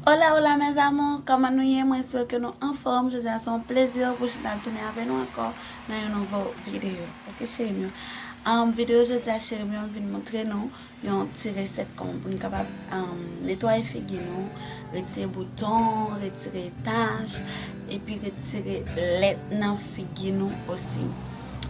Hola hola mes amours kòman nou ye mwen espere ke nou anfòm jodi a se yon plezi pou chita tounen avè nou ankò nan yon nouvo video ok cherim yo um video jodi a cherim yo m vin moutre nou yon ti resèt kòman pou nou kapab um netwaye figi nou retire bouton retire tach epi retire lèt nan figi nou osi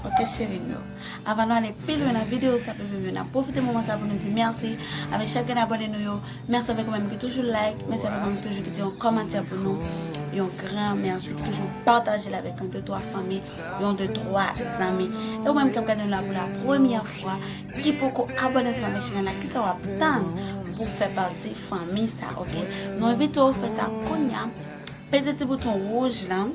ok cherim yo. Avan nou ale pi lwen nan video sa bebe m yo nap pwofite moman sa pou nou di mèsi avèk chak grenn abòne nou yo, mèsi avèk ou menm ki toujou like, mèsi avèk ou menm ki toujou kite yon kòmantè pou nou, yon gran mèsi ki toujou pataje l avèk yon de twa fanmi, yon de twa zanmi e ou menm kap gade nou la pou la premyè fwa ki poko abòne ansanm avèk chanèl la kisa wap tann pou fè pati fanmi sa ok nou envite w fè sa kounya peze ti bouton wouj lan.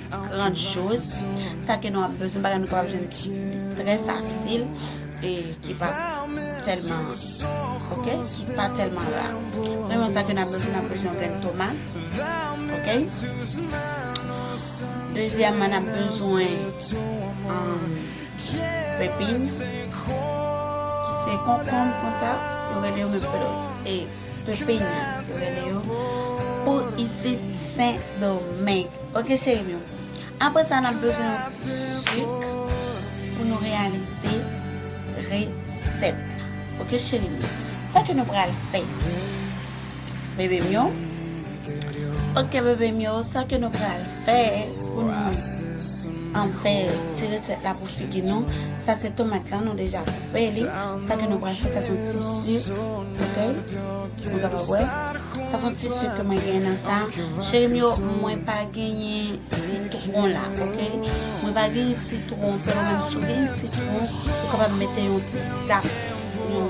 Grande chose, sa ke nou ap bezwen, bagay nou kapab jwenn ki trè fasil e ki pa tèlman ok, ki pa tèlman ra. Premyèman sa ke nou ap bezwen, nou ap bezwen yon grenn tomat ok. Dezyèman nou ap bezwen pepin ki se konkonb konsa, yo rele yo men pèl e. Pep peyi a yo rele yo Pou isit sen domeng ok cherim yo apre sa nap bezwen yon ti suk Pou nou reyalize reset la ok cherim yo sa ke nou pral fè bebe m yo. Ok bebe m yo sa ke nou pral fè pou nou an fè ti resèt la pou figi nou sa se tomat la nou deja koupe li sa ke nou pral fè sa son ti sik ok nou ta pa wè sa son ti sik ke mwen gen nan sa cheri m yo mwen pa genyen sitron la ok mwen pa genyen sitron fè ou menm si ou genyen sitron ou kapab mete yon ti tap yon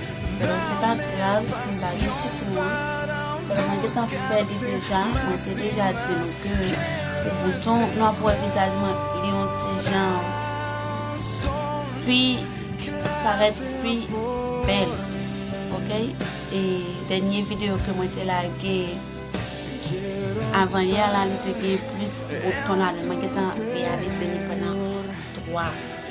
Bon se pa grav sim pa gen sitwon paske mwen gentan fè li deja mwen te deja di nou ke pou bouton nou ap wè vizaj mwen li yon ti jan pi parèt pi bèl ok e dènye video ke mwen te lage avan yè la li te gen plis bouton ladan mwen gentan reyalize li pandan 3.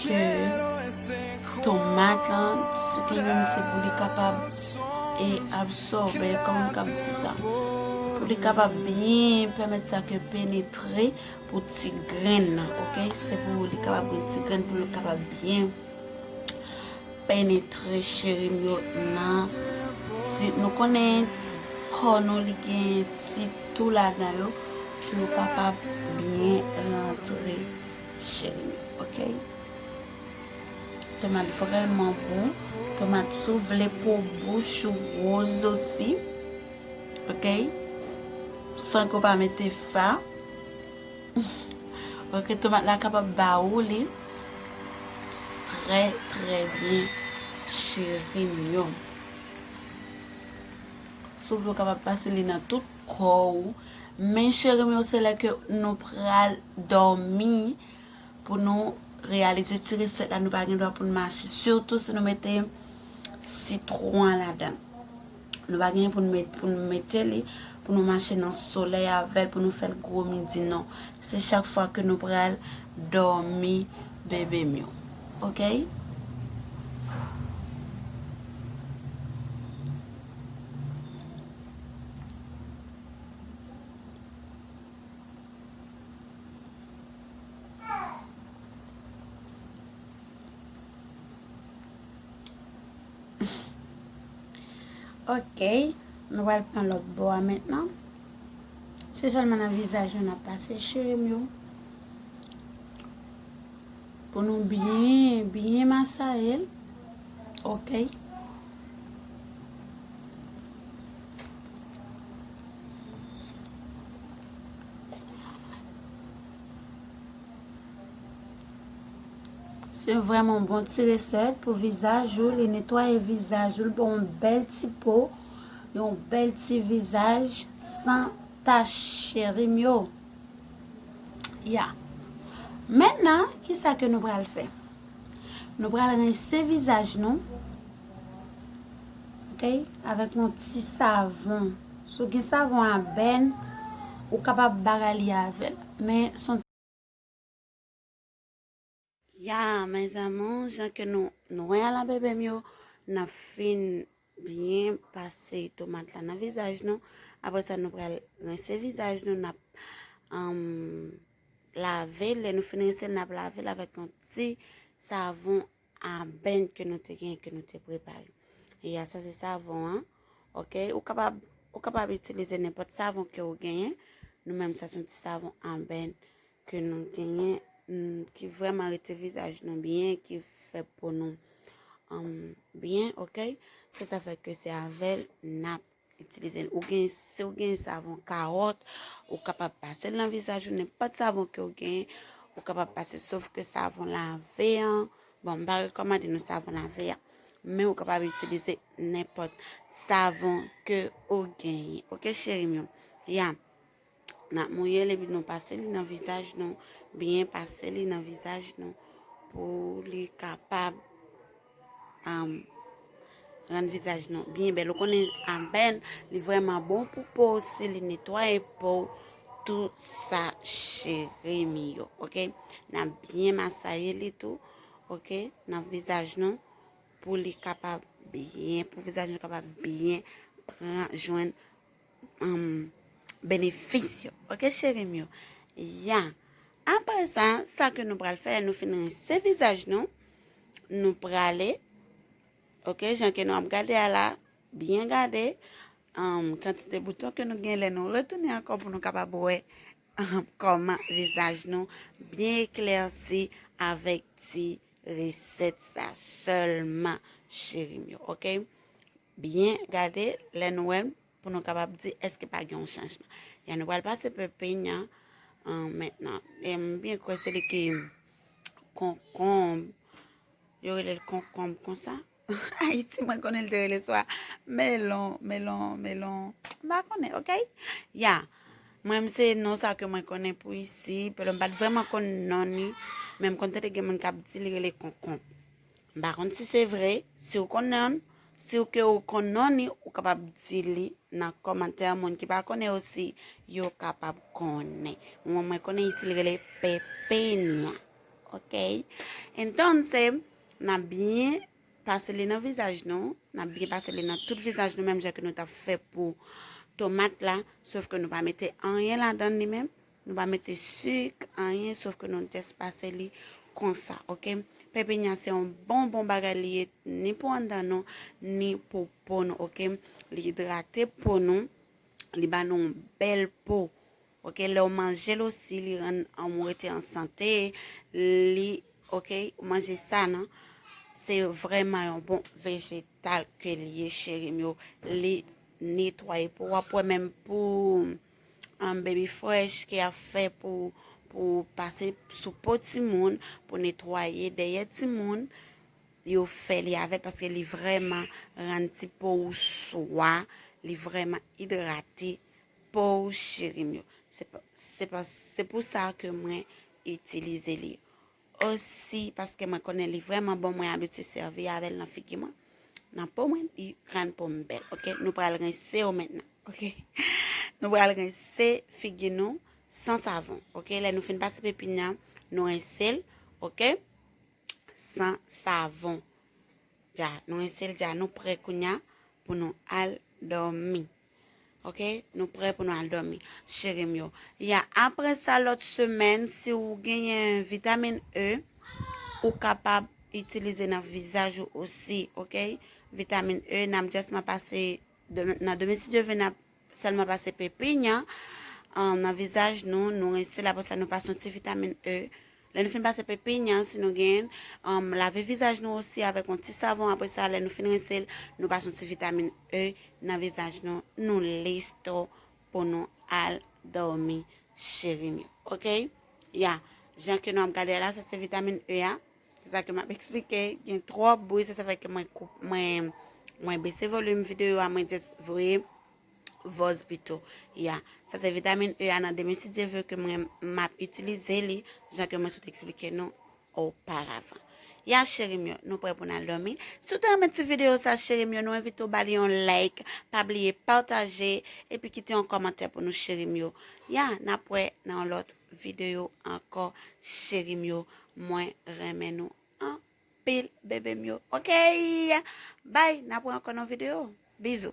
ke tomat lan sou tandem se pou li kapab e absòbe kòman m kab di sa pou li kapab byen pèmèt sa ke penetre pou ti grenn nan ok se pou li kapab gen ti grenn pou li kapab byen penetre cheri m yo nan si nou konnen kò nou li gen ti tou ladan yo pou yo kapab byen rantre Cherim ok. Tomat vreman bon. Tomat sou vle po bouch ou rose osi. Ok. San ko pa mete fa. Ok tomat la kapab ba ou li. Tre tre byen cherim yo. Sou vle ou kapab pase li nan tout ko ou. Men cherim yo se lè ke nou pral dòmi pou nou reyalize ti resèt la nou pa gen dwa pou nou mache sitou si nou mete sitwon an ladan nou pa gen pou nou mete li pou nou mache nan solèy avèl pou nou fèl gwo midi non se chak fwa ke nou pral dòmi bebe m yo ok. Ok, nou wèl pran lòt bo a mèt nan. Se sèlman nan vizaj nou nan pase chirem yo. Pou nou byen byen masayel okay. Se vreman bon ti reset pou vizaj ou li netwaye vizaj ou li ba w yon bel ti po yon bel ti vizaj san tach cherim yo. Ya. Mètnan, ki sa ke nou pral fè? Nou pral rense vizaj nou, ok, avèk yon ti savon. Si w gen savon a bèn, ou kapab bagay li avè l. Men, son. Ya mes amours jan ke nou nou wè a la bebe m yo nap fin byen pase tomat la nan vizaj nou apre sa nou pral rense vizaj nou nap um, lave lè nou fin rense nap lave l avèk yon ti savon aben ke nou te gen ke nou te prepare ya sa se savon an ok ou kapab ou kapab itilize nenpòt savon ke ou genyen nou menm sa son ti savon aben ke nou genyen ki vreman rete vizaj nou byen ki fè po nou byen ok se sa fè ke se avèl nap itilize l ou gen se ou gen savon karot ou kapab pase l nan vizaj ou nenpòt savon ke ou gen ou kapab pase sof ke savon lave an bon m pa rekomande nou savon lave an men ou kapab itilize nenpòt savon ke ou genyen ok cheri m yo ya Nap mouye l epi nou pase li nan vizaj nou, byen pase li nan vizaj nou pou li kapab um, rann vizaj nou byen bèl. Ou konnen anbèn, li vreman bon pou po, si li netwaye po, tou sa cheri mi yo, ok? Nan byen masaye li tou, ok? Nan vizaj nou, pou li kapab byen, pou vizaj nou kapab byen pran jwenn benefis yo ok cheri m yo ya apre sa sa ke nou pral fè lè nou fin rense vizaj nou nou prale ok jan ke nou ap gade a la byen gade kantite bouton ke nou gen lè nou retounen ankò pou nou kapab wè kòman vizaj nou byen eklersi avèk ti resèt sa sèlman cheri m yo ok Byen gade lè nou wè l pou nou kapab di èske pa gen yon chanjman. Yan nou pral pase pe peny an mentnan. E m byen kwè se li ki konkonb. Yo rele l konkonb konsa. Ayiti mwen konnen l te rele swa melon, melon, melon. M pa konnen, ok? Ya, mwen m se non sa ke mwen konnen pou isi. Pèlè m pa t vreman konnen non ni. Men m konn tande gen moun k ap di li rele konkonb. M pa konn si se vre, si w konnenl, si w ke w konnen li ou kapab di li nan kòmantè moun ki pa konnen osi yo kapab konnen. Mwen mwen konnen isi li rele pepenya. Ok. Entonse, na byen pase li nan vizaj nou, na byen pase li nan tout vizaj nou menm jan ke nou ta fè pou tomat la, sof ke nou pa mete anyen ladan li menm, Nou pa mete suk anyen sof ke nou just pase li konsa ok. Pepenya se yon bon bon bagay li ye ni pou andan nou ni pou po nou ok. Li idrate po nou, li ba nou bel po. Ok, lè ou manje l osi li rann ou rete an sante, li ok, ou manje sa nan. Se vreman yon bon vejetal ke li ye cherim yo. Li netwaye po, wap wè menm pou um, baby fresh ke ap fè pou pou pase sou po timoun pou netwaye dèyè timoun yo fè li avèl paske li vrèman rann ti po ou swa li vrèman idrate po ou cherim yo se pou sa ke mwen itilize li Oh si paske mwen konnen li vreman bon mwen abitye servi avel nan figi mwen nan po mwen li rann po mwen bel ok nou pral rense yo mentnan ok nou pral rense figi nou san savon ok lè nou fin pase pepin nan nou rense l ok san savon ja nou rense l ja nou pre kounya pou nou al domi. Ok nou prè pou nou al domi cherim yo ya apre sa lot semèn si ou genyen vitamin E ou kapab itilize nan vizaj ou osi ok vitamin E nam just ma pase nan demi si devè nan selman pase pepinya nan vizaj nou nou rense la pou sa nou pase yon ti vitamin E Lè nou fin pase pe peigne an si nou genyenl, anm lave vizaj nou osi avèk yon ti savon apresa lè nou fin rinsel nou pase yon ti vitamin E nan vizaj nou nou listo pou nou al dòmi cherim yo ok ya jan ke nou ap gade la sa se vitamin E ya se sa ke map eksplike gen tròp bri se sa fè ke mwen koup mwen mwen bese volum videyo a mwen just voye vòz pito ya sa se vitamin E a nan demen si Dieu veut ke mwen map itilize li jan ke mwen sot eksplike nou oparavan ya cherim yo nou prè pou nan domi si ou te renmen ti video sa cherim yo nou envite ou ba li yon like pa bliye pataje epi kite yon kòmantè pou nou cherim yo ya nan prè nan yon lòt video ankò cherim yo mwen renmen nou an anpil bebe m yo ok bye na pran ankò nan video bizou.